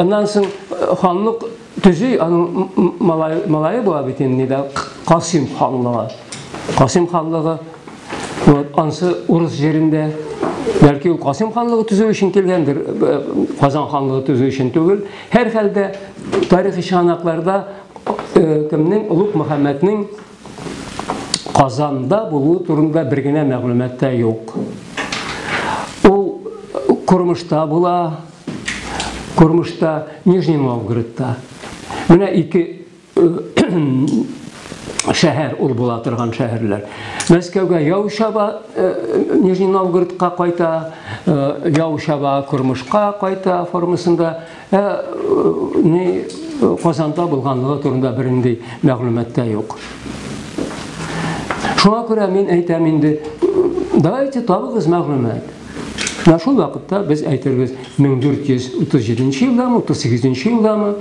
Аннан соң ханлык төзи, аның малайы була бит инде дә Касим ханлыгы. Касим ханлыгы вот ансы урыс җирендә бәлки ул Касим ханлыгы төзү өчен килгәндер, Казан ханлыгы төзү өчен түгел. Һәрхәлдә тарихи чыганакларда кемнең Олуг Мөхәммәднең Казанда булуы турында бер генә мәгълүмат та юк. Ул Кормышта була, Кормышта, Нижний Новгородта. Менә ике шәһәр ул була торган шәһәрләр. Мәскәүгә яу чаба, э, Нижний Новгородка кайта, э, яу чаба Курмышка кайта формасында Ә ни Казанда булганлыгы турында бернинди мәгълүмат та юк. Шуңа күрә мин әйтәм инде, давайте табыгыз мәгълүмат. Менә шул вакытта без әйтербез 1437 елдамы, 38 елдамы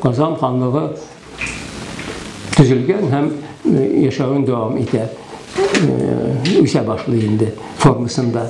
Казан ханлыгы төзелгән һәм яшәвен дәвам итә. Үсә башлый инде формасында.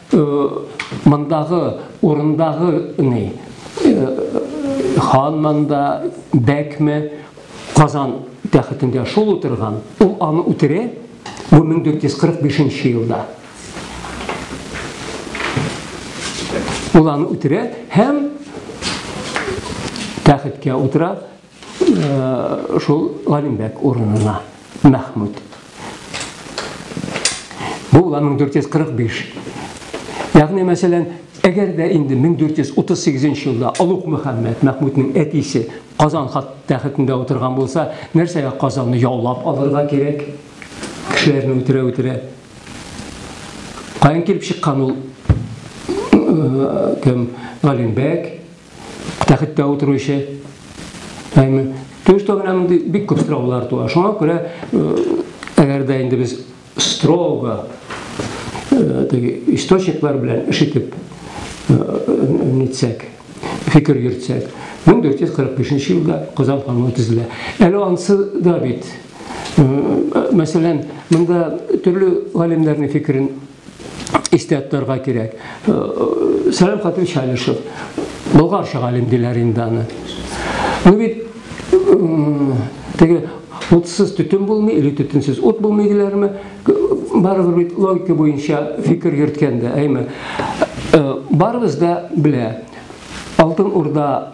Мондагы урындагы ни? Хан монда бәкме Казан тәхетендә шул утырган. Ул аны үтерә бу 1445 елда. Ул аны үтерә һәм тәхеткә утыра Шул Галимбәк урынына Мәхмүт. Бу була 1445. Ягъни, мәсәлән, әгәр дә инде 1438 елда Алук Мөхәммәд Мәхмүтнең әтисе Казан хат тәхетендә утырган булса, нәрсәгә Казанны яулап алырга кирәк? Кешеләрне үтерә-үтерә. Каян килеп чыккан ул кем? Галимбәк тәхеттә утыручы. Әйме, төштә генә мондый бик күп сораулар туа. Шуңа күрә, әгәр дә инде без строго теге источниклар белән эш итеп нитсәк, фикер йөртсәк, 1445 елда Казан ханлыгы төзелә. Әле ансы да бит. Мәсәлән, монда төрле галимнәрнең фикерен истә тотарга кирәк. Сәлам хатын Чалышев. Болгарча галим диләр инде аны. Ну бит теге утсыз төтен булмый или төтенсез ут булмый диләрме? Барыбер бит логика буенча фикер йөрткәндә, әйме. Барыбыз да белә. Алтын Урда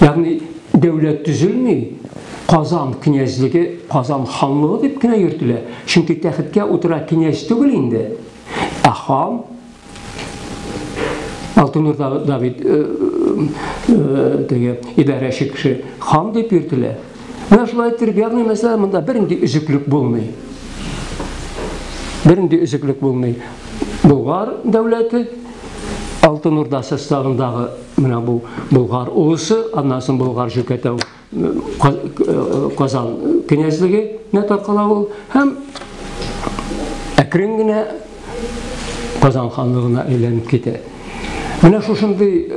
Ягъни дәүләт төзелми, Казан князьлеге, Казан ханлыгы дип кенә йөртелә. Чөнки тәхеткә утыра князь түгел инде, ә хан. Алтынурда Давид э, э, теге идарәче кеше хан дип йөртелә. Менә шулай иттереп ягъни мәсәлән монда бернинди өзеклек булмый. Бернинди өзеклек булмый. Болгар дәүләте Алтын Урда составындагы менә бу Болгар улысы, аннан соң Болгар җөкәтәү Казан кенәзлегенә таркала ул һәм әкрен генә Казан ханлыгына әйләнеп китә. Менә шушындый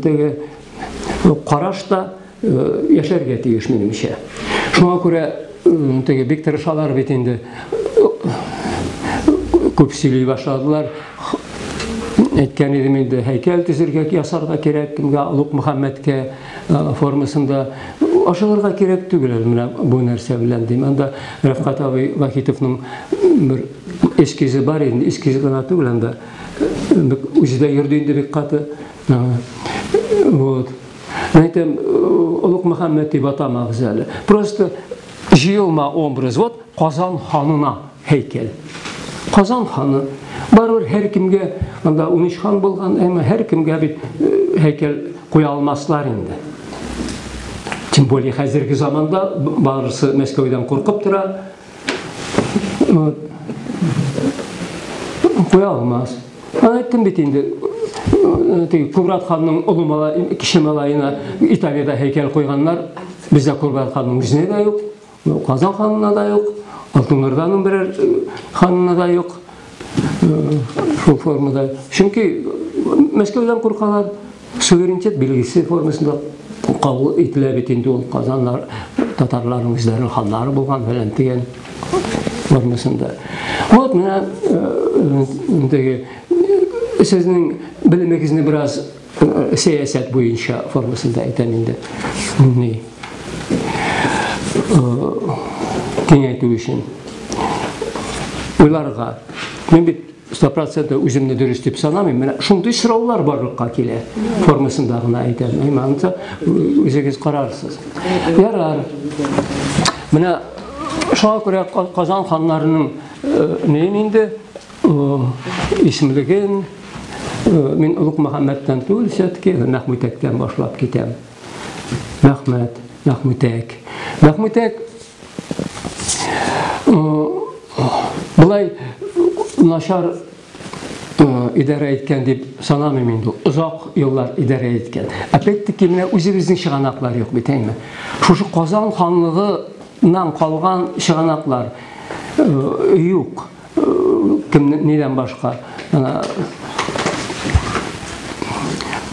теге караш та яшәргә тиеш минемчә. Шуңа күрә теге бик тырышалар бит инде. Күп сөйли башладылар. Әйткән идем инде, һәйкәл төзергә, ясарга кирәк кемгә, Лук Мөхәммәдкә формасында ашыгырга кирәк түгел менә бу нәрсә белән дим. Анда Рәфкат абый Вахитовның бер эскизы бар инде, эскизы гына түгел анда. Үзе дә йөрде инде бик каты. Вот. Мин әйтәм, Олуг Мөхәммәд дип атамагыз әле. Просто җыелма образ. Вот Казан ханына һәйкәл. Казан ханы барыбер һәр кемгә анда 13 хан булган, әмма һәр кемгә бит һәйкәл куя алмаслар инде. Тем более хәзерге заманда барысы Мәскәүдән куркып тора. Вот. Куя алмас. Аны айттым бит инде. Теге Кубрат ханның олы малай, кеше малаена Италиядә һәйкәл куйганнар. Бездә Кубрат ханның үзенә дә юк, Казан ханына да юк, Алтын Орданың берәр ханына да юк. Шул формада. Чөнки Мәскәүдән куркалар. Суверенитет билгесе формасында кабул ителә бит инде ул Казаннар татарларның үзләренең ханнары булган фәлән дигән формасында. Вот менә ниндәге сезнең белемегезне бераз сәясәт буенча формасында әйтәм инде. Ни? Киңәйтү өчен. Уйларга. Мин бит 100 проценты үземне дөрес дип санамыйм. Менә шундый сораулар барлыкка килә. Формасында гына әйтәм. Әй, манта үзегез карарсыз. Ярар. Менә шуңа күрә Казан ханнарының э, неен инде э, исемлеген э, мин Улук Мөхәммәттән түгел, все-таки Мәхмүтәктән башлап китәм. Рәхмәт, Мәхмүтәк. Мәхмүтәк былай начар идарә иткән дип санамыйм инде. Озак еллар идарә иткән. Опять-таки менә үзебезнең чыганаклар юк бит, әйме? Шушы Казан ханлыгы нан калган чыганаклар э, юк. кем нидән башка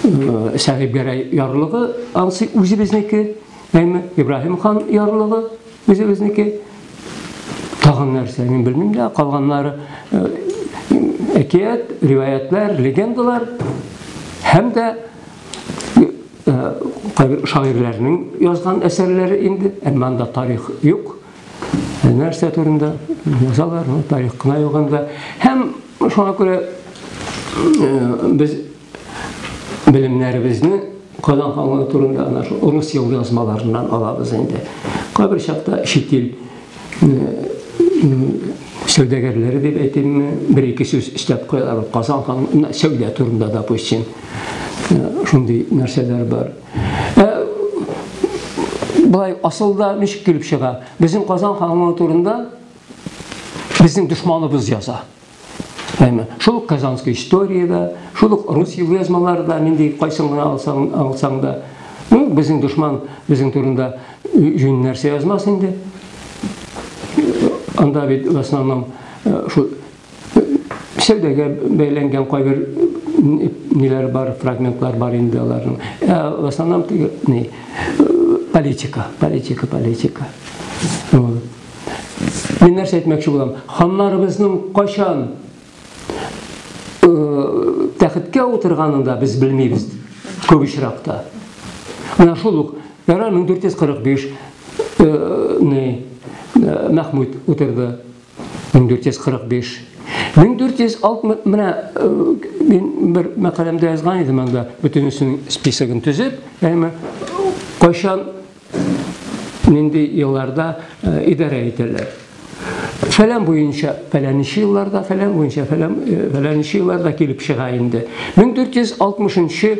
Сәгыйбгәрәй ярлыгы ансы үзебезнеке, әйме Ибраһим хан ярлыгы үзебезнеке. Тагын нәрсә, мин белмим дә, калганнары әкият, риваятлар, легендалар һәм дә кайбер шагыйрьләрнең язган әсәрләре инде, әмма анда тарих юк. Ә нәрсә турында язалар, ну, тарих кына юганда. Һәм шуңа күрә э, без белемнәребезне Казан ханлыгы турында ана шул урыс ел язмаларыннан алабыз инде. Кайбер чакта чит ил сәүдәгәрләре дип әйтимме, бер-ике сүз өстәп куялар. Казан ханлыгы сәүдә турында, допустим, шундый нәрсәләр бар. Ә, былай асылда ничек килеп чыга? Безнең Казан ханы турында безнең дошманыбыз яза. Әйме, шул Казанская история да, шул рус язмалары да, нинди кайсын гына алсаң, алсаң да, ну, безнең дошман безнең турында җүн нәрсә язмас инде. Анда бит в основном э, шул сәүдәгә бәйләнгән кайбер ниләр бар, фрагментлар бар инде аларның. Ә в основном не политика, политика, политика. Мин нәрсә әйтмәкче булам? Ханнарыбызның кайчан тәхеткә утырганын да без белмибез күп очракта. Менә шул ук Яра 1445 не Мәхмүд утырды. 1445. 1460 менә мин бер мәкаләмдә язган идем анда бөтенесен списогын төзеп, әмма кайчан нинди елларда идарә ителә. Фәлән буенча фәләнче елларда, фәлән буенча фәлән фәләнче елларда килеп чыга инде. 1460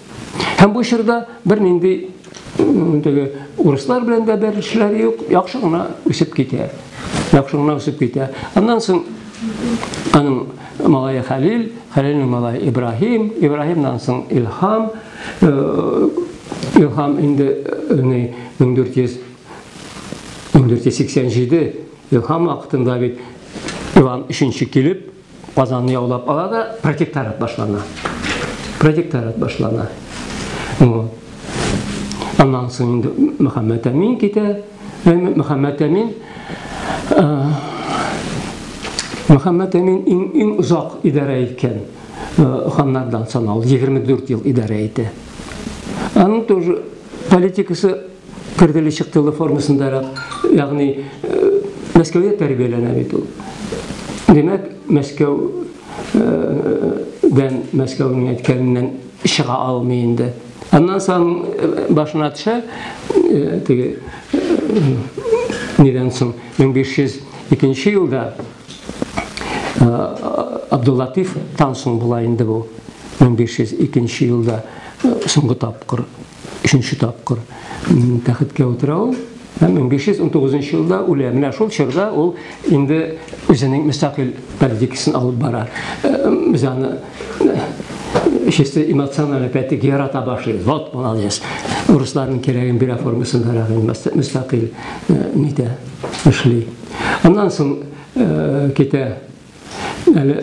Һәм бу чорда бернинди теге урыслар белән дә бәйлешләре юк, яхшы гына үсеп китә. Яхшы гына үсеп китә. Аннан соң аның малае Хәлил, Хәлилнең малае Ибраһим, Ибраһимнан соң Илһам, э, Илһам инде 1400 э, 1487 Илһам вакытында бит Иван 3 килеп Казанны яулап ала да протекторат башлана. Протекторат башлана. Ну, аннан соң инде Мөхәммәт Әмин китә. Мөхәммәт Әмин Мөхәммәт Әмин иң иң озак идарә иткән ханнардан санал, 24 ел идарә итә. Аның тоже политикасы Кертеле-чыктылы формасындарак, ягъни Мәскәүдә тәрбияләнә бит ул. Димәк, Мәскәү дән Мәскәүнең әйткәненнән чыга алмый инде. Аннан соң башына төшә, теге нидән соң 1502 елда Абдуллатиф тан соң була инде бу. 1502 елда соңгы тапкыр Өченче тапкыр тәхеткә утыра ул. Һәм 1519 елда үлә. Менә шул чорда ул инде үзенең мөстәкыйль политикасын алып бара. Без аны чисто эмоциональный пәтик ярата башлый. Вот, молодец. Русларның кирәген бирә формасын бара, мөстәкыйль нитә, эшли. Аннан соң китә Әле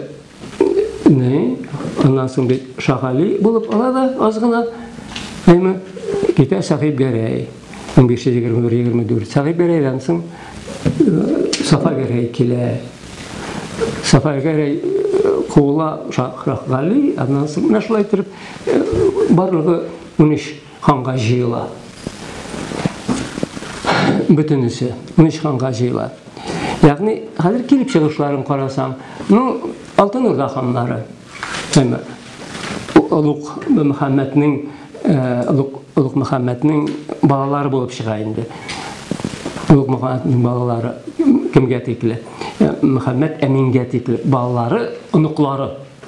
не, аннан соң бит Шагали булып ала да аз гына. Әйме, китә Сахиб Гәрәй. 1521-24. Сахиб Гәрәйдән соң Сафа Гәрәй килә. Сафа Гәрәй куыла Шагали, аннан соң менә шулай итеп барлыгы 13 Ханга җыела. Бөтенесе. Унөч ханга җыела. Ягъни, хәзер килеп чыгышларын карасаң, ну, Алтын Урда ханнары. Олуг Мөхәммәтнең, Олуг Олуг Мөхәммәтнең балалары булып чыга инде. Олуг Мөхәммәтнең балалары кемгә тикле? Мөхәммәт Әмингә тикле балалары, оныклары.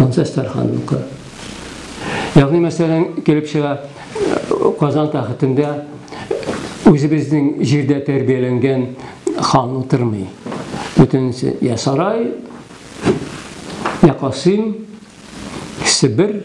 Ансы Әстәрханныкы. Ягъни мәсәлән килеп чыга Казан тәхетендә үзебезнең җирдә тәрбияләнгән хан утырмый. Бөтенесе я сарай, я касыйм, Себер,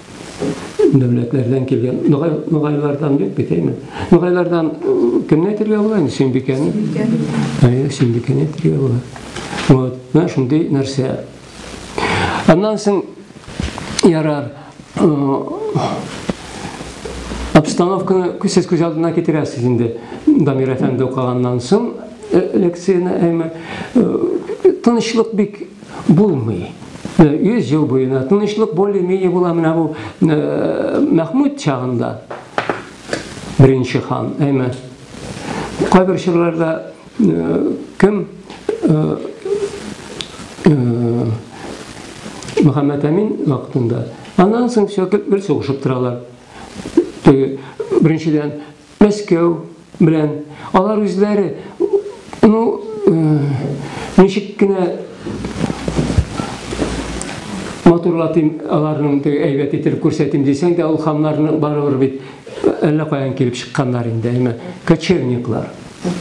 Дәүләтләрдән килгән ногай, ногайлардан юк бит, әйме? Ногайлардан кемне әйтергә була инде? Сөембикәне. Әйе, Сөембикәне әйтергә була. Вот, менә шундый нәрсә. Аннан соң ярар обстановканы сез күз алдына китерәсез инде. Дамир әфәнде укыганнан соң лекцияне, әйме? Тынычлык бик Булмый. Э, йөз ел буена тынычлык более-менее була менә бу э, мәхмүд чагында беренче хан әйме кайбер чорларда э, кем мөхәммәд әмин вакытында аннан соң сөякеп бер сугышып торалар теге беренчедән Мәскәү белән алар үзләре, ну, ничек кенә матурлатыйм, аларның теге әйбәт итеп күрсәтим дисәң дә, ул хамнарны барыбер бит әллә каян килеп чыкканнар инде, әйме, кочевниклар,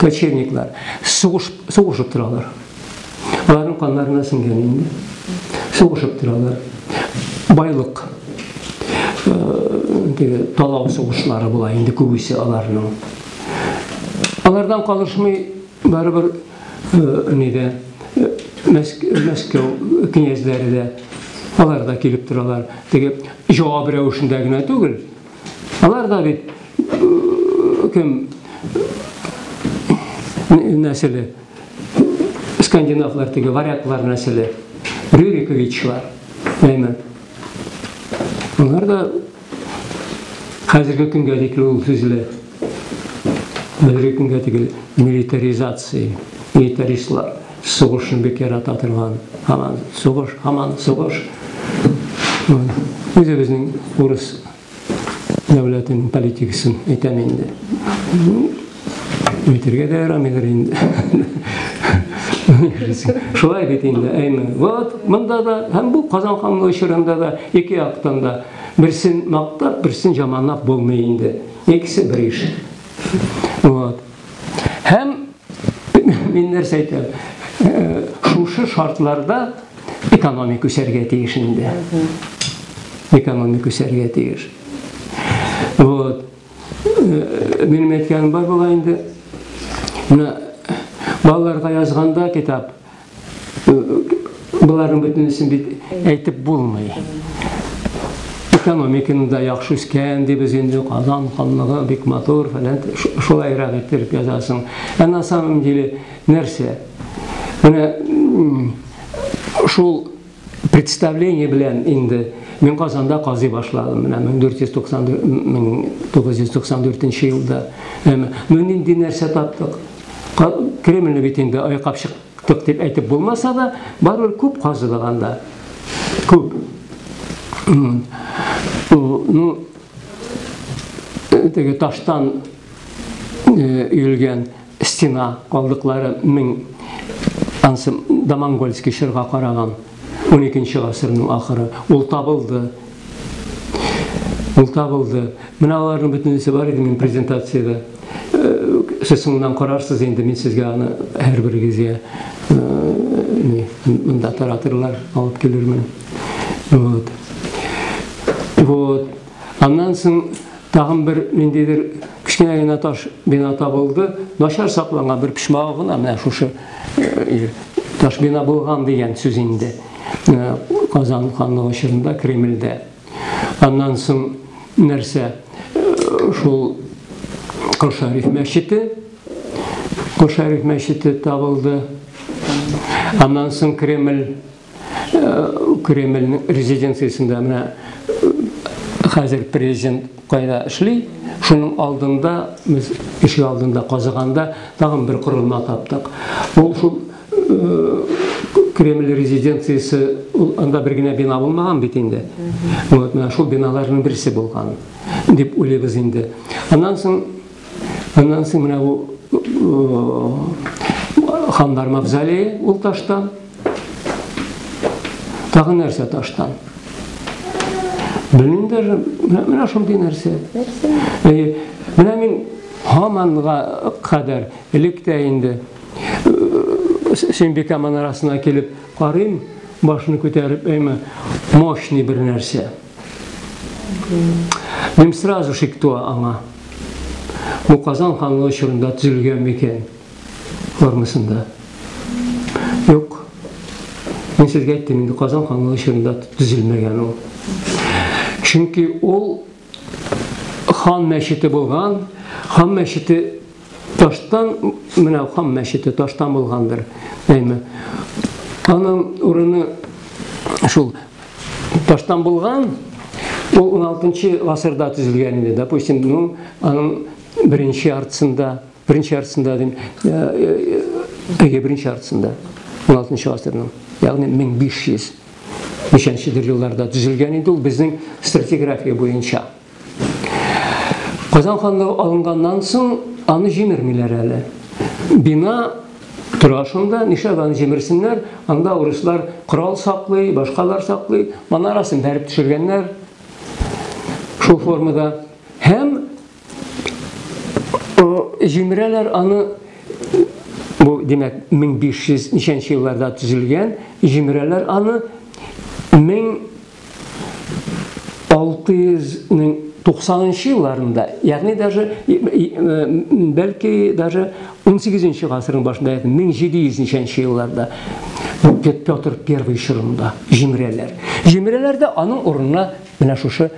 кочевниклар, сугыш, сугышып торалар. Аларның каннарына сеңгән инде. Сугышып торалар. Байлык теге талау сугышлары була инде күбесе аларның. Алардан калышмый барыбер нидә Мәскәү князьләре дә алар да килеп торалар. Теге җавап рәвешендә генә түгел, Алар да бит кем нәселе? Скандинавлар теге варяглар нәселе. Рюриковичлар. Әйме. Алар да хәзерге көнгә дикле ул сүзле. Әлеге көнгә тигел милитаризация, милитаристлар сугышны бик ярата торган, һаман сугыш, һаман сугыш. Үзебезнең урыс дәүләтенең политикасын әйтәм инде. Әйтергә дә ярамыйдыр инде. Шулай бит инде, әйме. Вот, монда да, һәм бу Казан ханлыгы чорында да ике яктан да берсен мактап, берсен жаманлап булмый инде. Икесе бер иш. Вот. Һәм мин нәрсә әйтәм? Э, шушы шартларда экономик үсәргә тиеш инде. Экономик үсәргә тиеш. Вот. Э, минем әйткәнем бар була инде. Менә балаларга язганда китап Боларның бөтенесен бит әйтеп булмый. Экономиканы да яхшы үскән дибез инде, Казан ханлыгы бик матур, фәлән шулайрак иттереп язасың. Ә на самом деле нәрсә? Менә шул Представление белән инде мин Казанда казый башладым. Менә 1994 елда. Ну нинди нәрсә таптык? Кремльне бит инде айкап чыктык дип әйтеп булмаса да, барыбер күп казыдык анда. Күп. Ну, теге таштан өелгән Стена калдыклары мең, ансы Домонгольский чорга караган, уникенче гасырның ахыры. Ул табылды. Ул табылды. Менә аларның бөтенесе бар иде мин презентациядә. Сез соңыннан карарсыз инде, мин сезгә аны һәрберегезгә не, монда таратырлар, алып килермен. Вот. Вот. Аннан соң Тагын бер ниндидер кечкенә генә таш бина табылды. Начар сакланган бер почмагы гына менә шушы э, таш бина булган дигән сүз инде. Э, Казан ханлыгы чорында Кремльдә. Аннан соң нәрсә? Э, шул Кошариф мәчете. Кошариф мәчете табылды. Аннан соң Кремль Кремльнең резиденциясендә менә хәзер президент кайда эшли, шуның алдында, без ишек алдында казыганда тагын бер корылма таптык. Ул шул Кремль резиденциясе, ул анда бер генә бина булмаган бит инде. Вот, менә шул биналарның берсе булган, дип уйлыйбыз инде. Аннан соң Аннан соң менә бу хандар мавзолее ул таштан. Тагы нәрсә таштан? Белмим даже, менә шундый нәрсә. Әйе, менә мин һаманга кадәр элек тә инде Сөембикә манарасына килеп карыйм, башны күтәреп, әйме, мощный бер нәрсә. Мин сразу шик туа аңа. Бу Казан ханлыгы чорында төзелгән микән? Формасында. Юк. Мин сезгә әйттем, инде Казан ханлыгы чорында төзелмәгән ул. Чөнки ул хан мәчете булган, хан мәчете Таштан менә Хам мәчете таштан булгандыр. Әйме. Аның урыны шул таштан булган, ул 16-нчы гасырда төзелгән иде. Допустим, ну, аның беренче яртысында, беренче яртысында дим, әйе, беренче яртысында 16-нчы гасырның, ягъни 1500 ничәнчедер елларда төзелгән иде ул безнең стратиграфия буенча. Казан ханлыгы алынганнан соң аны җимермиләр әле. Бина тора шунда, нишләп аны җимерсеннәр? Анда урыслар корал саклый, башкалар саклый, манарасын бәреп төшергәннәр шул формада. Һәм җимерәләр аны бу димәк 1500 ничәнче елларда төзелгән, җимерәләр аны 1000 690 нчы елларында, ягъни даже бәлки даже 18 нчы гасырның башында, 1700 нчы елларда Петр I чорында җимерәләр. Җимерәләрдә аның урынына менә шушы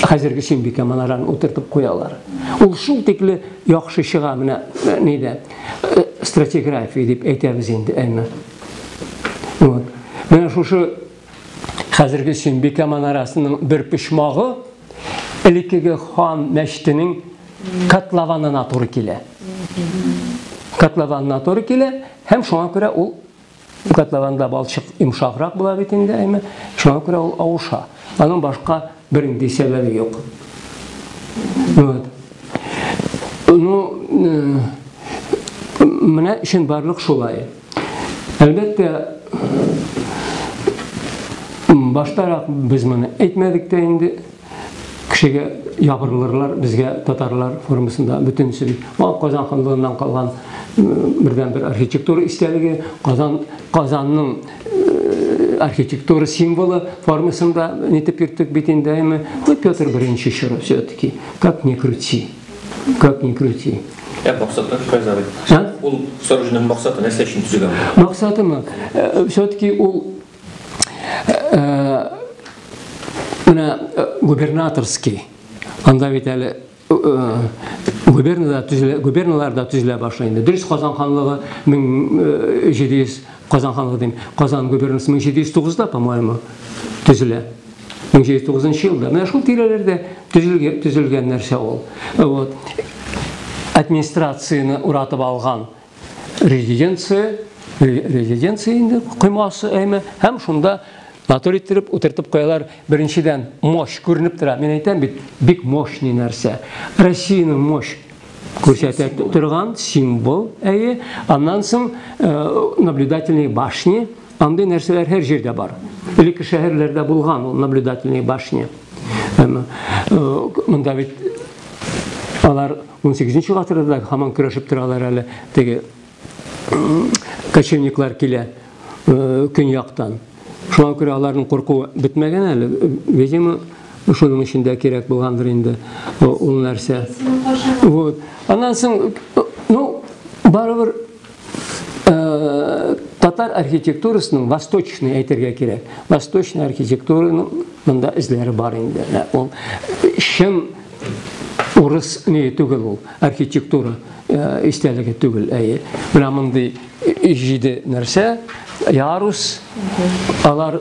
хәзерге Сөембикә манараны утыртып куялар. Ул шул тикле яхшы чыга менә э, нидә э, стратиграфия дип әйтәбез инде, әйме. Вот. Менә шушы Хәзерге Сөембикә манарасының бер почмагы элеккеге хан мәчетенең котлованына туры килә. Котлованына туры килә һәм шуңа күрә ул котлованда балчык йомшаграк була бит инде, әйме? Шуңа күрә ул авыша. Аның башка Бернинди сәбәбе юк. Вот. Ну, менә өчен барлык шулай. Әлбәттә, баштарак без моны әйтмәдек тә инде. Кешегә ябырылырлар безгә татарлар формасында бөтенсен. Ул Казан ханлыгыннан калган бердән бер архитектура истәлеге, Казан Казанның э, архитектура символы формасында нетеп йөрттек бит инде әйме ну петр беренче чоры все таки как ни крути как ни крути Ә максаты кайда бит? Ә? Ул сорожның максаты нәрсә өчен төзегән? Максатымы? Э, все таки ул э, менә губернаторский анда бит әле губернада төзелә, губерналарда төзелә башлый инде. Дөрес Казан ханлыгы 1700 э, Казан ханлыгы дим. Казан губернасы 1709-да, по-моему, төзелә. 1709 елда. Менә шул тирәләрдә төзелгән, төзелгән нәрсә ул. Вот. Администрацияне уратып алган резиденция, резиденция инде коймасы әйме, һәм шунда натур иттереп утыртып куялар. Беренчедән мощь күренеп тора. Мин әйтәм бит, бик мощный нәрсә. Россиянең мощь күрсәтә торган символ, әйе. Аннан соң э, наблюдательные башни, андый нәрсәләр һәр җирдә бар. Элекке шәһәрләрдә булган ул наблюдательные башни. Э, монда бит алар 18 гасырда да һаман көрәшеп торалар әле теге кочевниклар килә көньяктан. Шуңа күрә аларның куркуы бетмәгән әле. Видимо, шуның өчен дә кирәк булгандыр инде ул нәрсә. Вот. Аннан соң, ну, барыбер Татар архитектурасының восточный әйтергә кирәк. Восточный архитектураның монда эзләре бар инде. Ул чын урыс не түгел ул архитектура э, истәлеге түгел әйе менә мондый җиде нәрсә ярус алар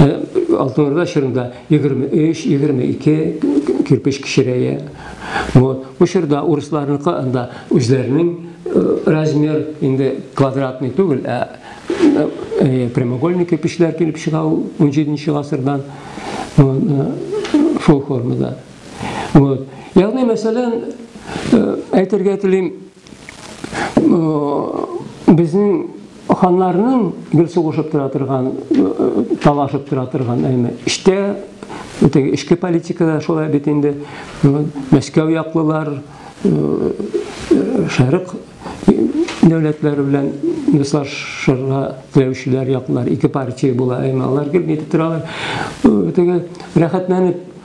Ә Алтын Урда чорында 23-22 кирпеч кечерәя. Вот. Бу чорда урысларныкы анда үзләренең размер инде квадратный түгел, ә прямоугольный кирпечләр килеп чыга 17 гасырдан шул формада. Вот. Ягъни мәсәлән, әйтергә телим, Безнең ханнарның гел сугышып тора торган, талашып тора торган, әйме, эчтә теге эчке политикада шулай бит инде. Мәскәү яклылар, шәрык дәүләтләре белән дуслашырга теләүчеләр яклар ике партия була, әмма алар гел нитеп торалар, теге рәхәтләнеп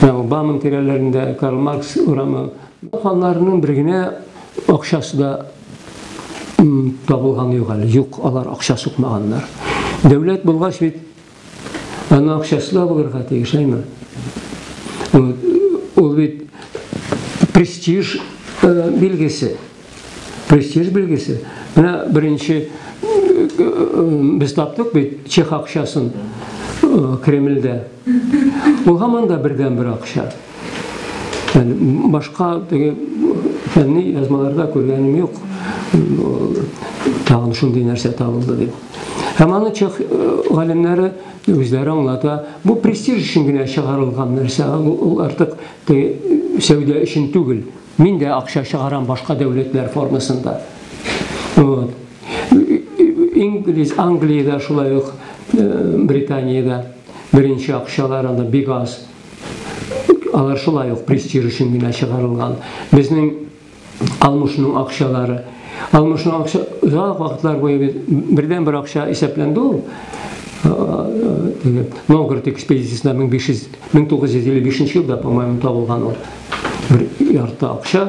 Бамын тирәләрендә Карл Маркс урамы. Аларның бер генә акчасы да табылган юк әле. Юк, алар акча сукмаганнар. Дәүләт булгач бит аны акчасы да булырга тиеш, әйме? Ул бит престиж э, билгесе. Престиж билгесе. Менә беренче без таптык бит чех акчасын Кремльдә. Ул һаман да бердән бер акча. Yani башка теге фәнни язмаларда күргәнем юк. Тагын шундый нәрсә табылды дип. Һәм аны чех галимнәре үзләре аңлата. Бу престиж өчен генә чыгарылган нәрсә. Ул артык сәүдә өчен түгел. Мин дә акча чыгарам башка дәүләтләр формасында. Вот. Инглиз, Англиядә шулай ук, Британиядә беренче акчалар анда бик аз. Алар шулай ук престиж өчен генә чыгарылган. Безнең Алмышның акчалары. Алмышның акча озак вакытлар буе бердән бер акча исәпләнде ул. Новгород экспедициясендә 1955 елда, по-моему, табылган ул. Бер ярты акча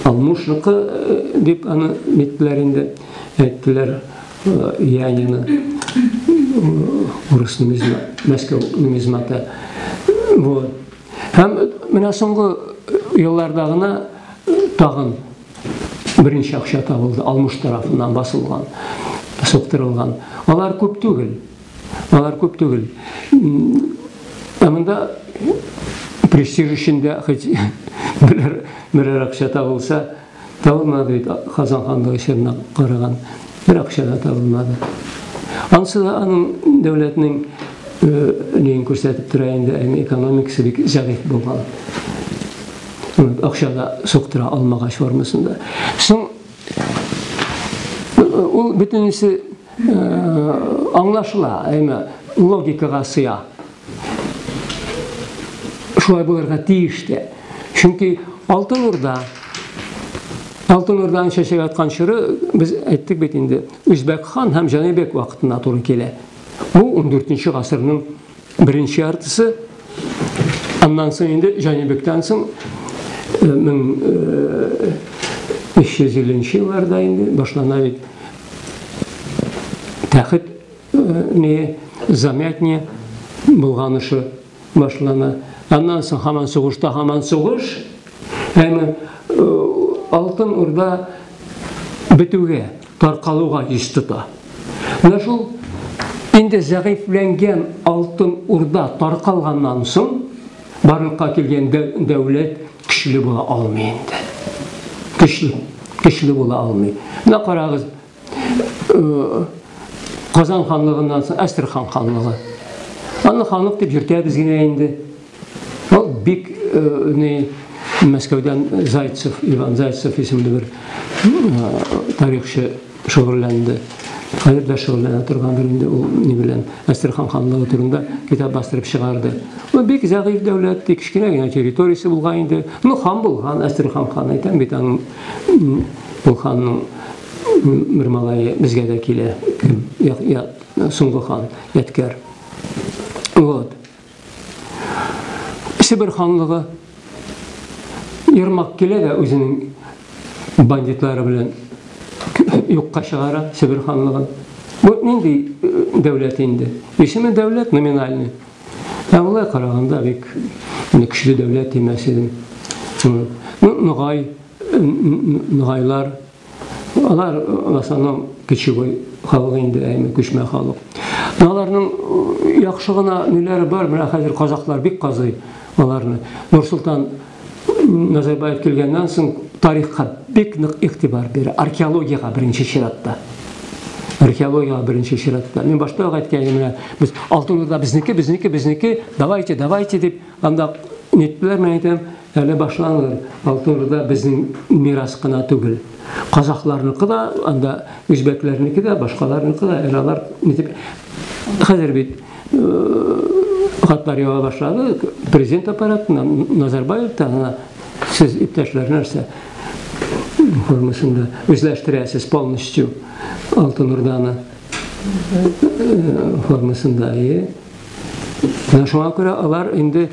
Алмушныкы э, дип аны ниттеләр инде, әйттеләр Янины э, э, урыс нумизма, Мәскәү нумизматы. Вот. Һәм менә соңгы елларда гына тагын беренче акча табылды, Алмуш тарафыннан басылган, суктырылган. Алар күп түгел. Алар күп түгел. Ә монда престиж өчен дә хоть берәр, берәр акча табылса, табылмады бит Казан ханлыгы чорына караган. Бер акча да табылмады. Ансы да аның дәүләтнең леген күрсәтеп тора инде, әмма экономикасы бик зәгыйфь булган. Акча да суктыра алмагач формасында. Соң ул бөтенесе Аңлашыла, әйме, логикага сыя. Шулай булырга тиеш тә. Чөнки Алтын Урда Алтын Урданың чәчәк аткан чоры без әйттек бит инде, Үзбәк хан һәм Җанибек вакытына туры килә. Бу 14 нче гасырның Беренче яртысы, аннан соң инде Җанибектән соң 1350 елларда инде башлана бит. Тәхет не замятне булганышы башлана. Аннан соң һаман сугышта һаман сугыш. Әмма Алтын Урда бетүгә таркалуга йөз тота. Менә шул инде зәгыйфьләнгән Алтын Урда таркалганнан соң, барлыкка килгән дәүләт көчле була алмый инде. Көчле, көчле була алмый. Менә карагыз, э, Казан ханлыгыннан соң Әстерхан ханлыгы. Аны ханлык дип йөртәбез генә инде. Ул бик ни Мәскәүдән Зайцев, Иван Зайцев исемле бер тарихчы шөгыльләнде. Хәзер дә шөгыльләнә торгандыр инде ул ни белән. Әстерхан ханлыгы турында китап бастырып чыгарды. Ул бик зәгыйфь дәүләт, тик кечкенә генә территориясе булган инде. Ну, хан булган, Әстерхан хан әйтәм бит аның ул ханның бер малае безгә дә килә. Соңгы хан, Яткәр. Вот. Себер ханлыгы Ермак килә дә үзенең бандитлары белән юкка чыгара Себер ханлыгын. Бу нинди э, дәүләт инде? Исеме дәүләт номинальный. Ә болай караганда бик көчле дәүләт димәс идем. Ну, Ногай, Ногайлар, Алар в основном кечевой халык инде, әйме күчмә халык. Аларның э, яхшы гына ниләре бар, менә хәзер казаклар бик казый аларны. Нурсултан Назарбаев килгәннән соң тарихка бик нык игътибар бирә, археологиягә беренче чиратта. Археологиягә беренче чиратта. Мин башта ук әйткән менә без Алтын Урда безнеке, безнеке, безнеке, давайте, давайте дип анда ниттеләр, мен әйтәм, Әле башлангыр Алтын Урда безнең мирас кына түгел. Казахларныкы да, анда үзбәкләрнеке дә, башкаларныкы да, әле алар нитеп хәзер бит хатлар ява башлады, президент аппаратыннан, Назарбаевтан гына сез иптәшләр нәрсә формасында үзләштерәсез полностью Алтын Урданы формасында. Менә шуңа күрә алар инде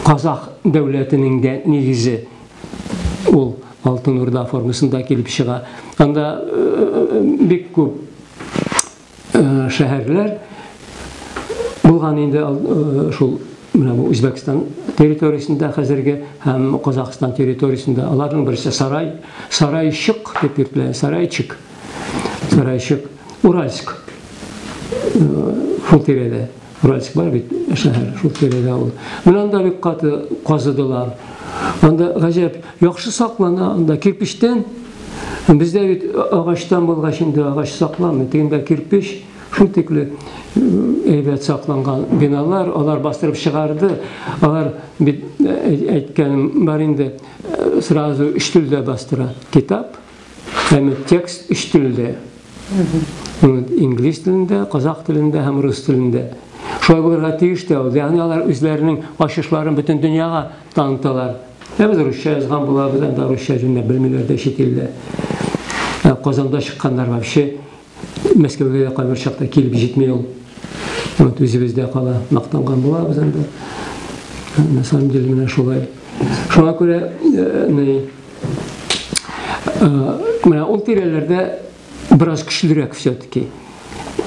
казах дәүләтенең дә нигезе ул Алтын Урда формасында килеп чыга. Анда бик күп шәһәрләр булган инде шул менә бу Үзбәкстан территориясендә хәзерге һәм Казахстан территориясендә аларның берсе Сарай, Сарайчык дип йөртелә, Сарайчик. Сарайчик. Уральск шул тирәдә. Уральск бар бит шәһәр, шул тирәдә ул. Менә анда бик каты казыдылар. Анда гаҗәп, яхшы саклана, анда кирпичтән. Бездә бит агачтан булгач инде агач сакламый, тегендә кирпич, шул тикле әйбәт сакланган биналар, алар бастырып чыгарды. Алар бит әйткәнем бар инде, сразу өч телдә бастыра. Китап, Әмма текст өч телдә. Инглиз телендә, казах телендә һәм рус телендә. Шулай булырга тиеш тә ул. Ягъни алар үзләренең ачышларын бөтен дөньяга таныталар. Ә без русча язган булабыз, анда русча җүнләп белмиләр дә чит илдә. Казанда чыкканнар вообще Мәскәүгә дә кайбер чакта килеп җитми ул. Вот үзебездә кала. Мактанган булабыз инде. На самом деле менә шулай. Шуңа күрә ни менә ул тирәләрдә бераз көчлерәк все-таки.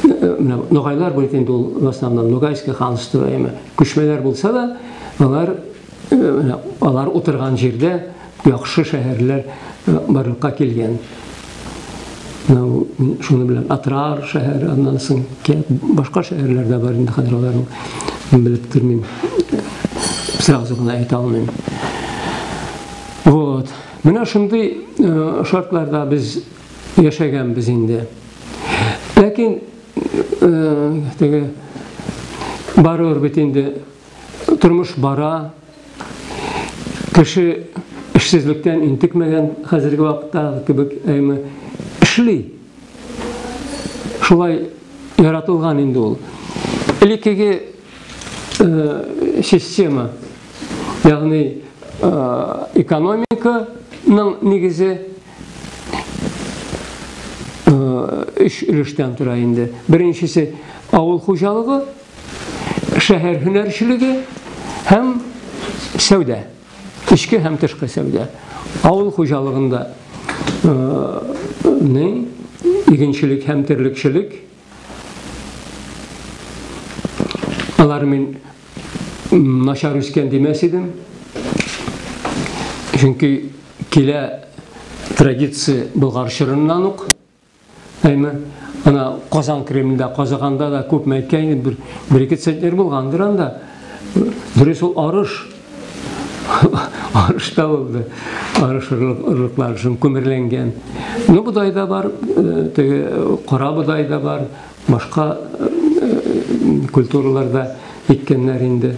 Менә ногайлар бит инде ул в основном Ногайское ханство яме. Күчмәләр булса да, алар Э, алар утырган җирдә яхшы шәһәрләр э, барлыкка килгән. Менә мин шуны беләм. Атрар шәһәре, аннан соң башка шәһәрләр дә бар инде хәзер аларны белеп тормыйм. Сразу гына әйтә алмыйм. Вот. Менә шундый э, шартларда без яшәгәнбез инде. Ләкин теге барыр бит инде Тормыш бара. Кеше эшсезлектән интекмәгән хәзерге вакытта кебек, әйме, эшли. Шулай яратылган инде ул. Элеккеге э, система, ягъни э, экономиканың нигезе э, өч өлештән тора инде. Беренчесе авыл хуҗалыгы, шәһәр һөнәрчелеге һәм сәүдә, эчке һәм тышкы сәүдә, авыл хуҗалыгында не игенчелек һәм терлекчелек алар мин начар үскән димәс идем чөнки килә традиция болгар чорыннан ук Әйме, ана Казан Кремлендә, Казаганда да күп мәйткәйне бер, бер ике центнер булгандыр анда. Дөрес ул арыш. арыш та булды. Арыш ырлыклар шым күмерләнгән. Ну, бодай да бар, э, теге э, кара бодай да бар, башка э, культураларда иккәннәр инде.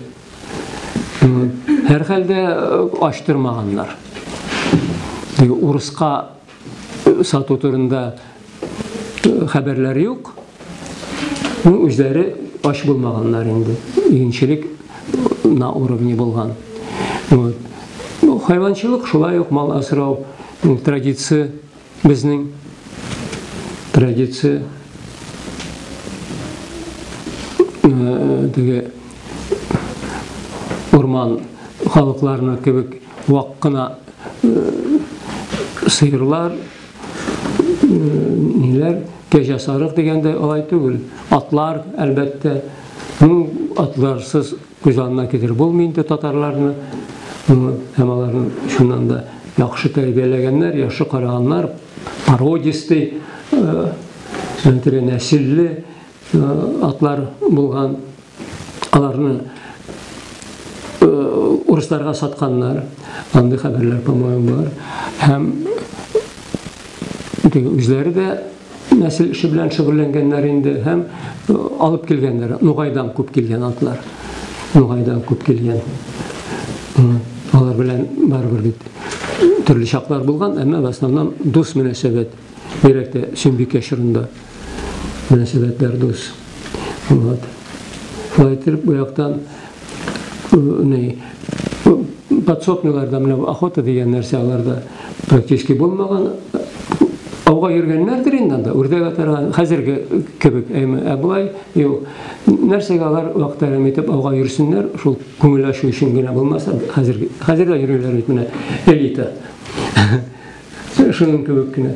Һәр хәлдә ачтырмаганнар. Урыска сату турында хәбәрләр юк. Ну, үзләре ач булмаганнар инде. Игенчелек на уровне булган. Вот. Ну, хайванчылык шулай ук мал асрау традиция безнең традиция теге урман халыкларына кебек Вак кына сыерлар, ниләр, кәҗә сарык дигәндә алай түгел. Атлар, әлбәттә. Ну, атларсыз күз алдына китереп булмый инде татарларны. Ну, һәм аларны шуннан да яхшы тәрбияләгәннәр, яхшы караганнар, породистый, нәселле, Атлар булган, аларны урысларга сатканнар. Андый хәбәрләр, по-моему, бар. Һәм үзләре дә нәсел эше белән шөгыльләнгәннәр инде һәм алып килгәннәр. Нугайдан күп килгән атлар. Нугайдан күп килгән. Алар белән барыбер бит төрле чаклар булган, әмма в основном дус мөнәсәбәт. Бигрәк тә Сөембикә чорында мөнәсәбәтләр дус. Вот. Шулай итеп, бу яктан ни подсобныйларда менә охота дигән нәрсә аларда практически булмаган. Ауга йөргәннәрдер инде анда, үрдәк атарга, хәзерге кебек, әйме, ә болай юк. Нәрсәгә алар вакытларын итеп ауга йөрсеннәр, шул күңел ачу өчен генә булмаса, хәзер хәзер дә йөриләр бит менә элита. Шуның кебек кенә.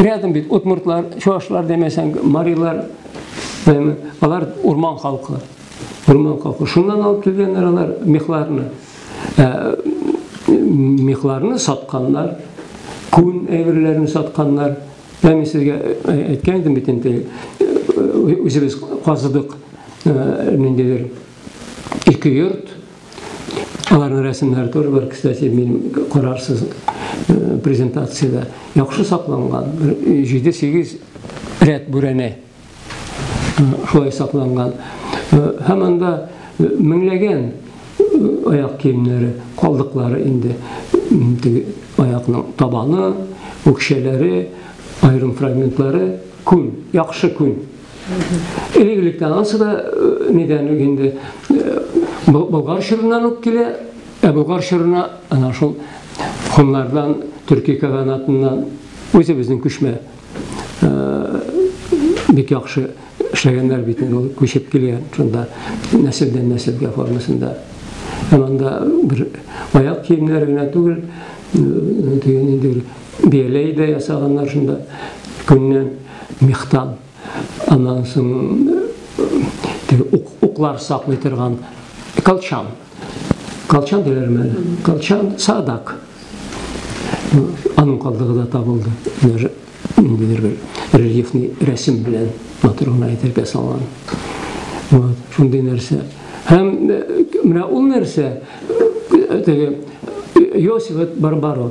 Рядом бит удмуртлар, чуашлар демәсәң, марилар, алар урман халкы. Урман халкы. Шуннан алып килгәннәр алар мехларны. Ә, мехларны сатканнар, күн әйберләрен сатканнар. Мен сезгә әйткән идем бит инде. Үзебез казыдык ниндидер ике йорт Аларның рәсемнәре тоже бар, кстати, мин карарсыз э, презентациядә. Яхшы сакланган, 7-8 рәт бүрәнә э, шулай сакланган. Э, һәм анда меңләгән аяк киемнәре, калдыклары инде, теге аякның табаны, үкчәләре, аерым фрагментлары, күн, яхшы күн. Элек электән ансы да нидән үк инде болгар чорыннан ук килә, ә болгар чорына ана шул хуннардан, төрки каганатыннан үзебезнең күчмә бик яхшы эшләгәннәр бит инде ул күчеп килгән шунда нәселдән нәселгә формасында. Һәм анда бер аяк киемнәре генә түгел, дигән инде бияләй дә ясаганнар шунда күннән. Мехтан, аннан соң теге уклар саклый торган колчан. Колчан диләрме? Колчан садак. Аның калдыгы да табылды. Даже ниндидер бер рельефный рәсем белән матур гына әйтергә салган. Вот, шундый нәрсә. Һәм менә ул нәрсә теге Йосиф Барбаро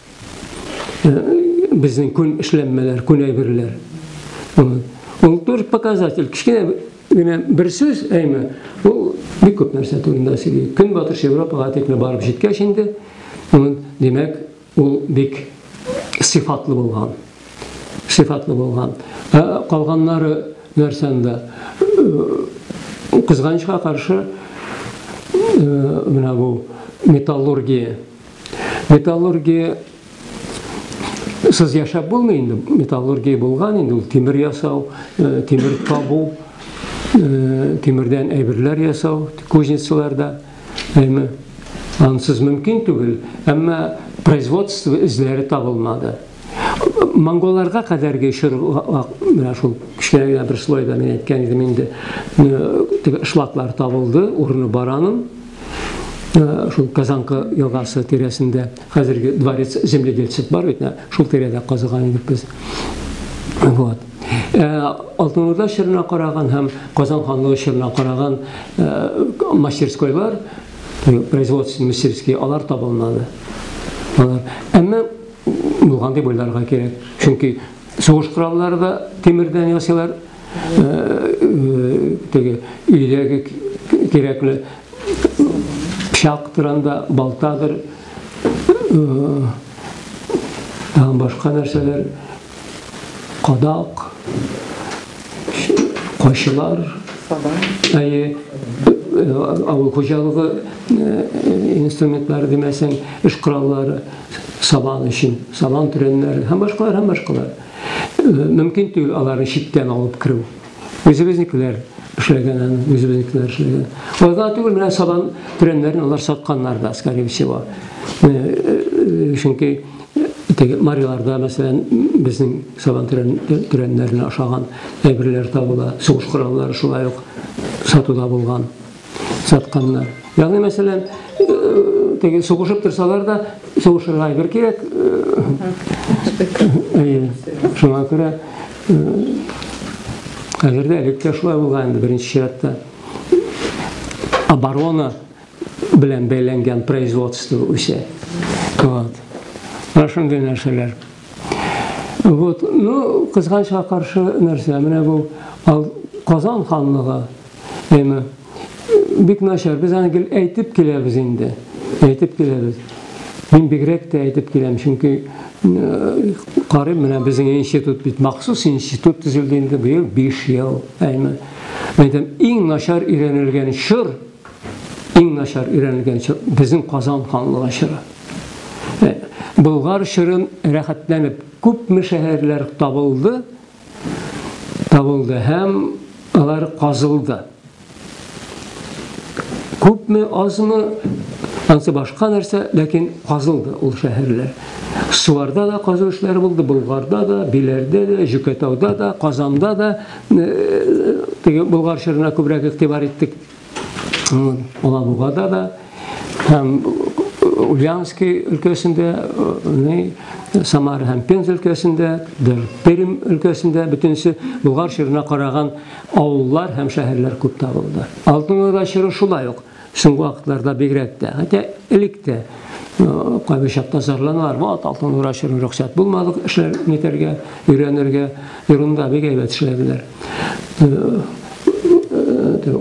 э, безнең күн эшләнмәләр, күн әйберләр. Ул тоже показатель. Кечкенә генә бер сүз әйме, ул бик күп нәрсә турында сөйли. Көнбатыш Европага тикле барып җиткәч инде, димәк, ул бик сыйфатлы булган. Сыйфатлы булган. Ә калганнары нәрсәндә? Кызганычка каршы, менә бу металлургия Металлургия сыз яшәп булмый инде. Металлургия булган инде ул тимер ясау, э, тимер табу, э, тимердән әйберләр ясау кузницаларда. Әйме, ансыз мөмкин түгел, әмма производство эзләре табылмады. Монголларга кадәрге чор менә шул кечкенә бер слойда мин әйткән идем инде, э, шлаклар табылды, урыны бараның. шул Казанка елгасы тирәсендә хәзерге дворец земледельцев бар бит, шул тирәдә казыган идек без. Вот. Э, Алтын Урда чорына караган һәм Казан ханлыгы чорына караган э, мастерскойлар, э, производственный мастерские, алар табылмады. Алар. Әмма булган дип уйларга кирәк. Чөнки сугыш кораллары да тимердән ясыйлар, теге өйдәге кирәкле пычактыр анда, балтадыр, тагын башка нәрсәләр, кадак, кайчылар, әйе, авыл хуҗалыгы инструментлары димәсәң, эш кораллары, сабан өчен, сабан төрәннәре һәм башкалар, һәм башкалар. мөмкин түгел аларны читтән алып керү. Үзебезнекеләр эшләгән аны, үзебезнекеләр эшләгән. Алар гына түгел, менә сабан төрәннәрен алар сатканнар да, скорее всего. Э, э, чөнки теге мариларда, мәсәлән, безнең сабан төрәннәренә ашаган әйберләр табыла, сугыш кораллары шулай ук сатуда булган. сатканнар. Ягъни, мәсәлән, теге сугышып торсалар да, сугышырга әйбер кирәк. Әйе. Шуңа күрә хәзер дә элек тә шулай булган инде беренче чиратта. Оборона белән бәйләнгән производство үсә. Вот. Менә шундый нәрсәләр. Вот. Ну, кызганычка каршы нәрсә, менә бу Казан ханлыгы Әмма бик начар, без аны гел әйтеп киләбез инде. Әйтеп киләбез. Мин бигрәк тә әйтеп киләм, чөнки карыйм, менә безнең институт бит махсус институт төзелде инде быел 5 ел. Әмма әйтәм, иң начар өйрәнелгән чор, иң начар өйрәнелгән чор безнең Казан ханлыгы чоры. Болгар чорын рәхәтләнеп күпме шәһәрләр табылды, табылды һәм алар казылды. Күпме, азмы, ансы башка нәрсә, ләкин казылды ул шәһәрләр. Суарда да казу эшләре булды, Болгарда да, Биләрдә дә, Җөкәтауда да, Казанда да, э, теге Болгар чорына күбрәк игътибар иттек. Алабугада да һәм Ульянский өлкәсендә, Самара һәм Пенза өлкәсендә, Пермь өлкәсендә бөтенесе Болгар чорына караган авыллар һәм шәһәрләр күп табылды. Алтын Урда чоры шулай ук соңгы вакытларда бигрәк тә, хәтта элек тә кайбер чакта зарланалар вот алтын нура төшерү рөхсәт булмады эшләр нитәргә өйрәнергә ерында бик әйбәт эшләделәр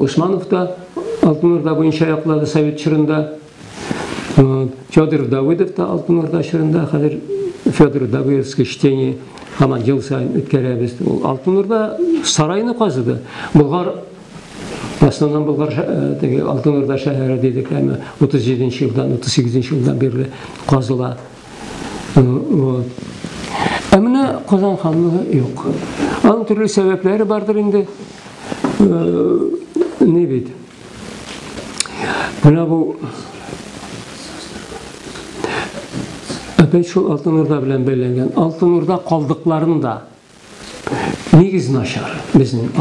усманов та алтын нурда буенча яклады совет чорында федор давыдов та алтын нурда чорында хәзер федор давыдовский чтение һаман ел сайын үткәрәбез ул алтын нурда сарайны казыды болгар В основном Болгар теге Алтын Урда шәһәре дидек, әмма 37 нче елдан, 38 нче елдан бирле казыла. Вот. Ә менә Казан ханлыгы юк. Аның төрле сәбәпләре бардыр инде. Не бит. Менә бу Әпәй шул Алтын Урда белән бәйләнгән. Алтын Урда калдыкларын да Нигез начар безнең.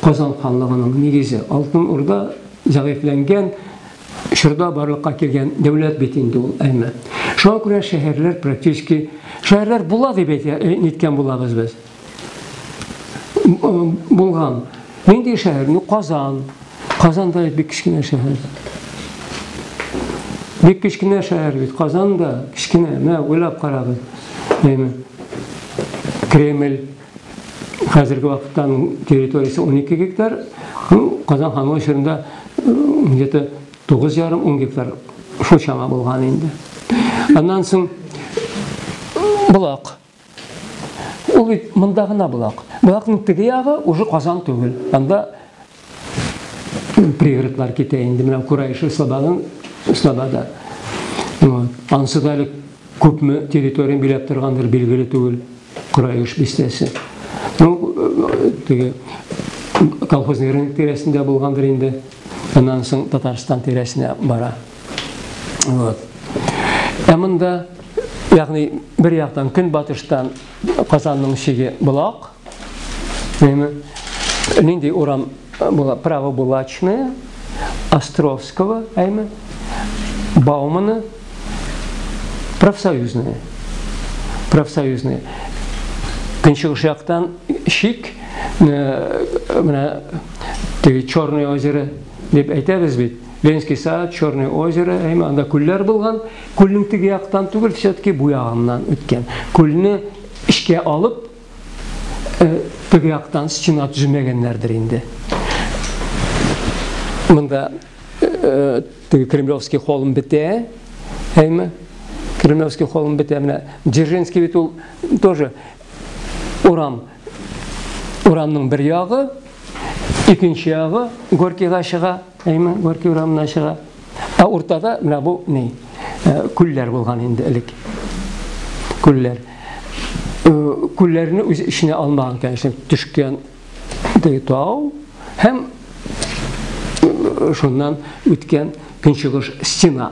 Казан ханлыгының нигезе Алтын Урда зәгыйфьләнгән чорда барлыкка килгән дәүләт бит инде ул әмма. Шуңа күрә шәһәрләр практически шәһәрләр була дип әйткән булабыз без. Булган. Нинди шәһәр? Ну, Казан. Казан да бик кечкенә шәһәр. Бик кечкенә шәһәр бит. Казан да кечкенә. Менә уйлап карагыз. Әйме. Кремль хәзерге вакытта территориясе 12 гектар. Ну, Казан ханлыгы чорында где-то 9,5-10 гектар шул чама булган инде. Аннан соң Булак. Ул бит монда гына булак. Булакның теге ягы уже Казан түгел. Анда пригородлар китә инде. Менә Курайшы слободың слобода. Ансы да әле күпме территория биләп торгандыр билгеле түгел. Курайыш бистәсе. Ну, теге колхозный рынок тирәсендә булгандыр инде. Аннан соң Татарстан тирәсенә бара. Вот. Ә монда, ягъни бер яктан көнбатыштан Казанның чиге Булак. Димме? Нинди урам була? Право Булачное, Островского, әйме? Баумана, профсоюзные. Профсоюзные. Көнчыгыш яктан шик, э, менә теге Черное озеро дип әйтәбез бит. Ленский сад, Черное озеро, әйме анда күлләр булган. Күлнең теге яктан түгел, все-таки бу ягыннан үткән. Күлне эшкә алып, э, теге яктан стена төземәгәннәрдер инде. Монда э, теге Кремлевский холм бетә, әйме? Кремлевский холм бетә. Менә Дзержинский бит ул тоже урам Урамның бер ягы, икенче ягы Горькийга чыга, әйме, Горький урамына чыга. Ә уртада менә бу ни? Э, күлләр булган инде элек. Күлләр. Э, күлләрне үз эченә алмаган, конечно, төшкән тау һәм э, шуннан үткән көнчыгыш стена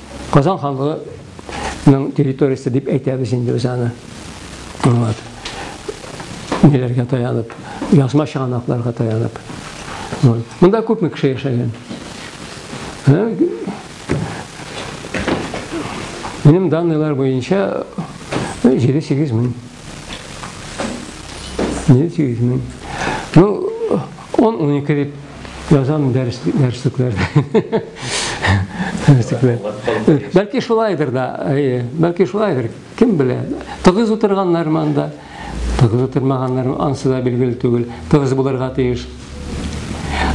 Казан ханлыгы ның территориясе дип әйтәбез инде без аны. Вот. Ниләргә таянып, язма чыганакларга таянып. Вот. Монда күпме кеше яшәгән? Минем данныйлар буенча 7-8 мең. 7-8 мең. Ну, он 12 дип Язам дәрес дәреслекләрдә. Бәлки шулайдыр да, әйе, бәлки шулайдыр, кем белә. Тыгыз утырганнар монда. Тыгыз утырмаганнар, ансы да билгеле түгел. Тыгыз булырга тиеш.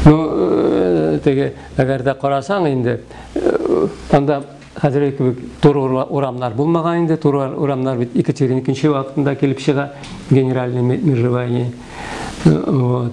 Ну, э, теге, әгәр дә карасаң инде, э, анда хәзерге кебек туры урамнар булмаган инде, туры урамнар бит Екатерина икенче вакытында килеп чыга, генеральный межевание. Э, вот.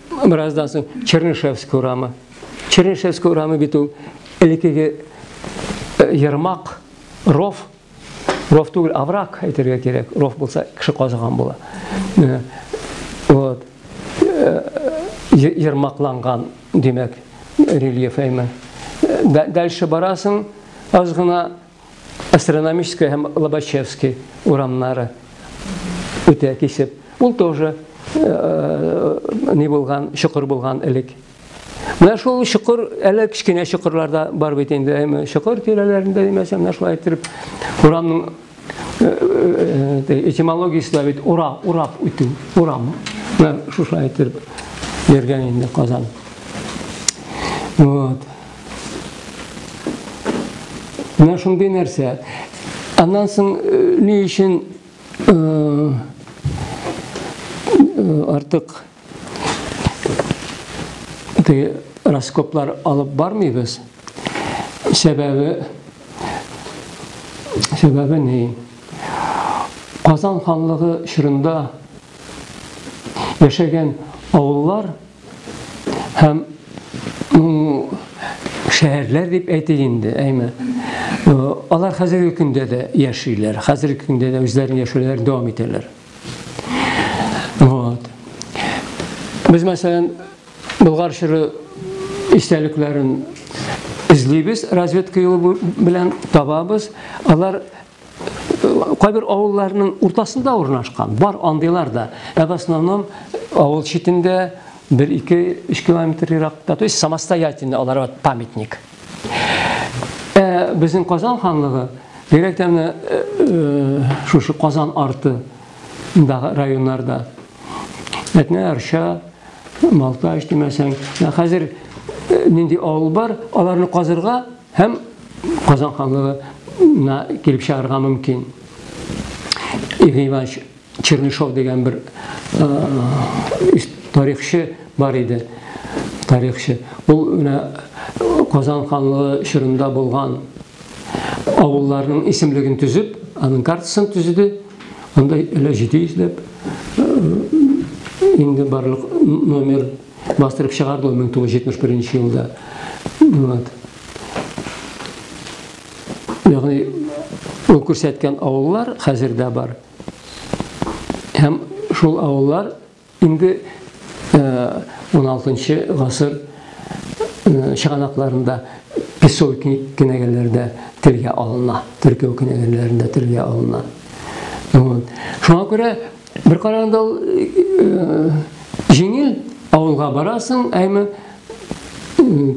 Бераздан соң Чернышевск урамы. Чернышевск урамы бит ул элеккеге ермак, ров, ров түгел, аврак әйтергә кирәк. Ров булса кеше казыган була. Вот. Ермакланган, димәк, рельеф әйме. Дальше барасың, аз гына Астрономическая һәм Лобачевский урамнары үтә кисеп. Ул тоже э, не булган, чокыр булган элек. Менә шул чокыр, әле кечкенә чокырларда бар бит инде, әйме, чокыр тирәләрендә димәсә, менә шулай иттереп урамның э, э, э, этимологиясе дә бит ура, урап үтү, урам. Менә шушылай иттереп йөргән инде Казан. Вот. Менә шундый нәрсә. Аннан соң э, ни өчен э, э, артык раскоплар алып бармыйбыз? Сәбәбе Сәбәбе ни? Казан ханлыгы чорында яшәгән авыллар Һәм шәһәрләр дип әйтик инде, әйме. Алар хәзерге көндә дә яшиләр, хәзерге көндә дә үзләрен яшәүләр дәвам итәләр. Вот. Без мәсәлән Болгар чоры истәлекләрен эзлибез, разведка юлы белән табабыз. Алар Кайбер авылларның уртасында урнашкан, бар андыйлар да. Ә в основном авыл читендә 1-2-3 километр еракта, то есть самостоятельно аларга памятник. Ә безнең Казан ханлыгы бигрәк тә менә э, э, шушы Казан арты районнарда. Әтнә Арча, Малташ димәсәң, хәзер э, нинди авыл бар, аларны казырга Һәм Казан ханлыгына килеп чыгарга мөмкин. Игорь Иванович Чернышов дигән бер тарихчы бар иде. Тарихчы. Ул менә Казан ханлыгы чорында булган авылларның исемлеген төзеп, аның картасын төзеде. Анда әле 700 ләп инде барлык номер Бастырып чыгарды ул 1971 елда. Вот. Ягъни ул күрсәткән авыллар хәзер дә бар. Һәм шул авыллар инде 16 э, гасыр э, чыганакларында песой кенәгәләрдә телгә алына, төркеү кенәгәләрендә телгә алына. Вот. Шуңа күрә Бер караганда ул җиңел, авылга барасың, әйме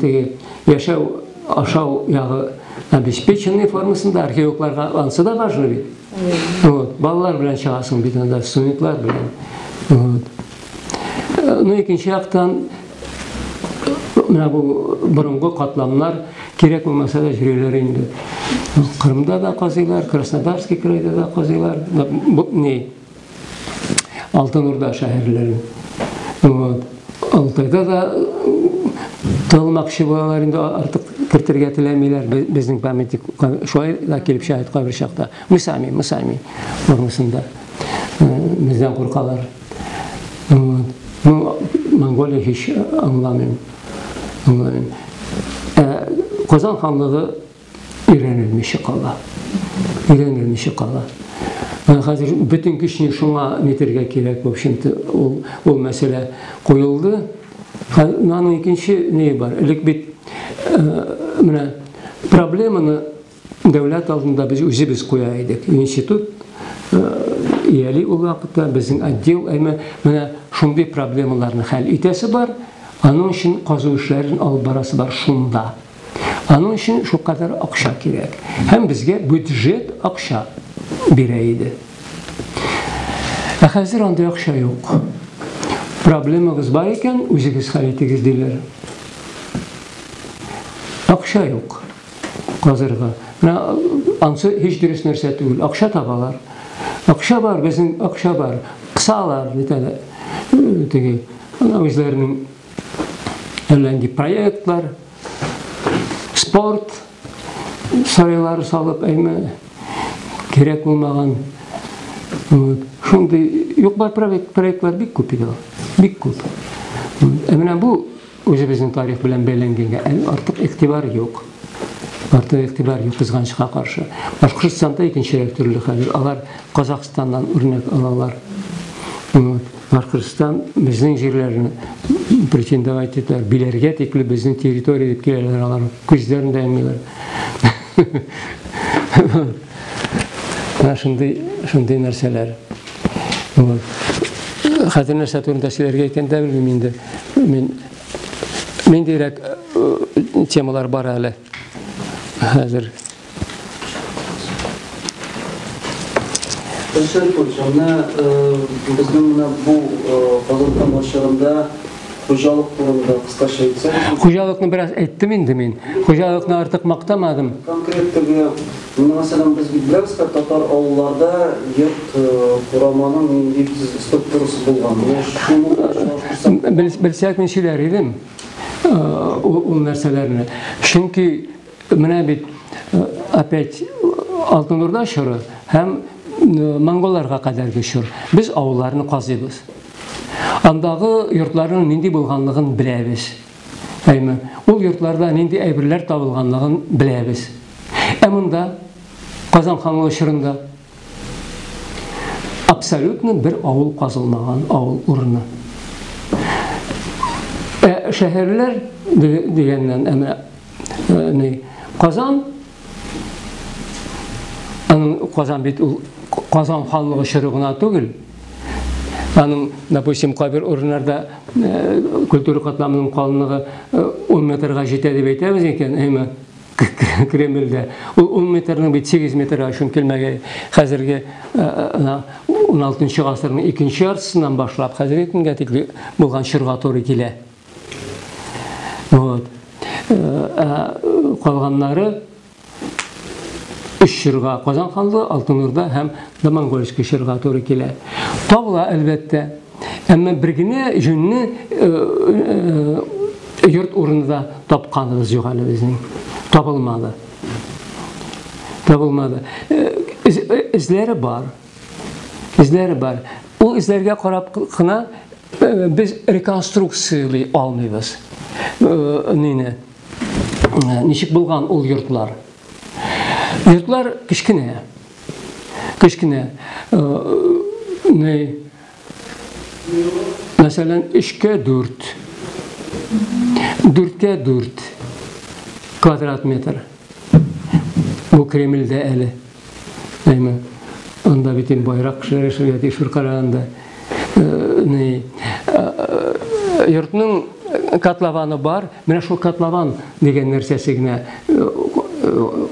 теге яшәү, ашау ягы обеспеченный формасында археологларга ансы да важно бит. Вот, балалар белән чыгасың бит анда, студентлар белән. Вот. Ну, икенче яктан, Менә бу борынгы катламнар кирәк булмаса да җөриләр инде. Кырымда да казыйлар, Краснодарский крайда да казыйлар, бу не Алтын Урда шәһәрләре. Вот. Алтайда да тылмакчы булалар инде артык кертергә теләмиләр безнең памятник шулай да килеп шәһәт кабер чакта. Мы сами, мы сами формасында. Бездән куркалар. Ну, Монголия һич аңламыйм. Аңламыйм. Ә Казан ханлыгы өйрәнелмичә кала. Өйрәнелмичә кала. Хәзер бөтен көчне шуңа нитергә кирәк, в общем-то, ул, ул мәсьәлә куелды. Наның икенче нее бар. Элек бит э, менә проблеманы Дәүләт алдында без үзебез куя идек. Институт ияли ул вакытта безнең отдел әмма менә шундый проблемаларны хәл итәсе бар, аның өчен казу эшләрен алып барасы бар шунда. Аның өчен шулкадәр акча кирәк. Һәм безгә бюджет акча бирә иде. Ә хәзер андый акча юк. Проблемагыз бар икән, үзегез хәл итегез диләр. Акча юк. казырга. Менә ансы һич дөрес нәрсә түгел. Акча табалар. Акча бар, безнең акча бар. Кысалар, бит әле. Теге, үзләренең әллә нинди проектлар, спорт, сарайлары салып, әйме, кирәк булмаган. Вот. Шундый, юк бар проектлар бик күп иде. Бик күп. Ә менә бу Үзебезнең тарих белән бәйләнгәнгә әле артык игътибар юк. Артык игътибар юк, кызганычка каршы. Башкортстанда икенчерәк төрле хәзер. Алар Казахстаннан үрнәк алалар. Башкортстан безнең җирләрне претендовать итәр, биләргә тикле безнең территория дип киләләр алар. Күзләрен дә йоммыйлар. Менә шундый, шундый нәрсәләр. Хәзер нәрсә турында сөйләргә икән дә белмим инде. Мин мин дирәк э, темалар бар әле. Хәзер. Эшер Кучаны э, безнең менә бу Казахстан э, башында хуҗалык турында кыскача әйтсәк. Хуҗалыкны бераз әйттем инде мин. Хуҗалыкны артык мактамадым. Конкреттеге Инде мәсәлән, без бит беләбез хәт татар авылларда йорт кураманың нинди структурасы булган. Менә шуны белән чагыштырсак. Бел, белсәк мин сөйләр идем. Ул нәрсәләрне. Чөнки менә бит опять Алтын Урда чоры һәм монголларга кадәрге чор. Без авылларны казыйбыз. Андагы йортларның нинди булганлыгын беләбез. Әйме, ул йортларда нинди әйберләр табылганлыгын беләбез. Ә монда, Казан ханлыгы чорында, абсолютно бер авыл казылмаган, авыл урыны. Ә шәһәрләр дигәннән, әмә э, Казан, аның Казан бит ул Казан ханлыгы чоры гына түгел, аның, допустим, кабер урыннарда э, культура катламының калынлыгы 10 э, метрга җитә дип әйтәбез икән, әйме? Кремльдә. Ул 10 метрның бит 8 метрга өчен килмәге хәзерге 16 гасырның икенче яртысыннан башлап хәзерге көнгә тикле булган чорга туры килә. Вот. Калганнары өч чорга Казан ханлыгы, Алтын Урда һәм Монгольский чорга туры килә. Тагыла әлбәттә, Әмма бер генә җүнне йорт урынында тапканыбыз юк әле безнең. Табылмады. Табылмады. Эзләре бар. Эзләре бар. Ул эзләргә карап кына без реконструкциялый алмыйбыз. Нине? Ничек булган ул йортлар? Йортлар кечкенә. Кечкенә, ни, мәсәлән, өчкә дүрт, дүрткә дүрт квадрат метр. Бу Кремльдә әле. Әйме, анда бит инде байрак кешеләр яшәргә тиеш бер караганда. Ни, йортның котлованы бар, менә шул котлован дигән нәрсәсе генә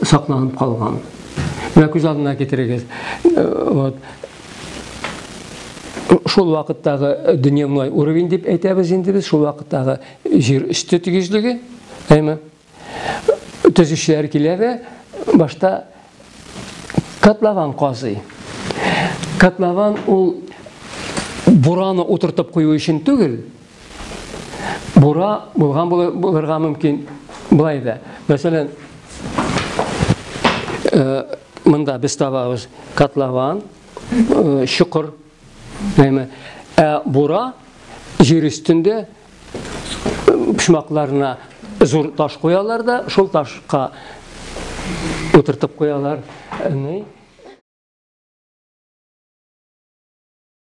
сакланып калган. Менә күз алдына китерегез. Вот. Шул вакыттагы дөньямлай уровень дип әйтәбез инде без, шул вакыттагы җир өсте тигезлеге, әйме? Төзүчеләр килә дә башта котлован казый. Котлован ул бураны утыртып кую өчен түгел, Бура булган булырга мөмкин. Болай да. Мәсәлән, э, монда без табабыз котлован, э, чокыр. Әмма э, бура җир өстендә почмакларына зур таш куялар да, шул ташка утыртып куялар. Ни?